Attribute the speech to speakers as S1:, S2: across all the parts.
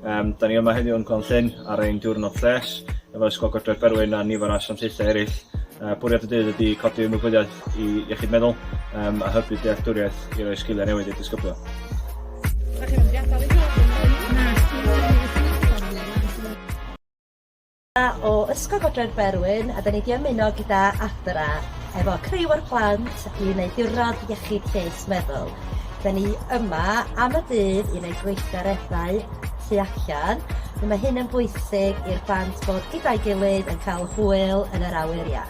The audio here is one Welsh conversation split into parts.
S1: Yym, 'da ni yma heddiw yn Glan Llyn ar ein diwrnod lles efo Ysgol Gogledd Berwyn a nifer o asiantaethau eraill. Yy, bwriad y dydd ydy codi ymwybyddiaeth i iechyd meddwl um, a hybu dealltwriaeth i roi sgiliau newydd i'r disgyblion. o Ysgol Godre'r Berwyn a 'dan ni 'di ymuno gyda Adra efo criw o'r plant i neud diwrnod iechyd lles meddwl. 'Dan ni yma am y dydd i neud gweithgareddau tu allan. Mae hyn yn bwysig i'r plant bod gyda'i gilydd yn cael hwyl yn yr awyr iach.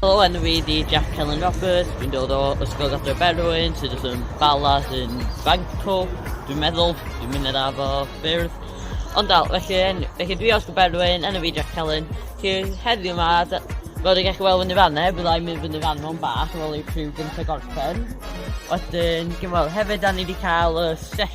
S1: Helo, enw fi di Jack Helen Roberts, dwi'n dod o Ysgol Gadre Berwyn, sydd yn Bala, sy'n Banco, dwi'n meddwl, dwi'n mynd i'r afo ffyrdd. Ond dal, felly, felly dwi os Berwyn, enw fi Jack Helen, Felly heddiw yma, fel ydych chi'n gweld fyny fan e, byddai'n mynd fyny fan o'n bach, fel ei prif gyntaf gorffen. Wedyn, gymwel, hefyd da ni wedi cael y sesiwn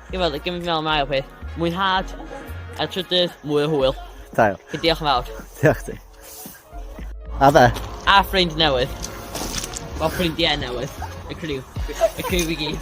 S1: Ie wel gymryd fi'n meddwl am ail peth. Mwynhad. A trydydd, mwy o hwyl. Da iawn. Felly diolch yn fawr. Diolch ti. A fe? A ffrind newydd. O ffrindiau newydd. Y criw. Y criw i gyd.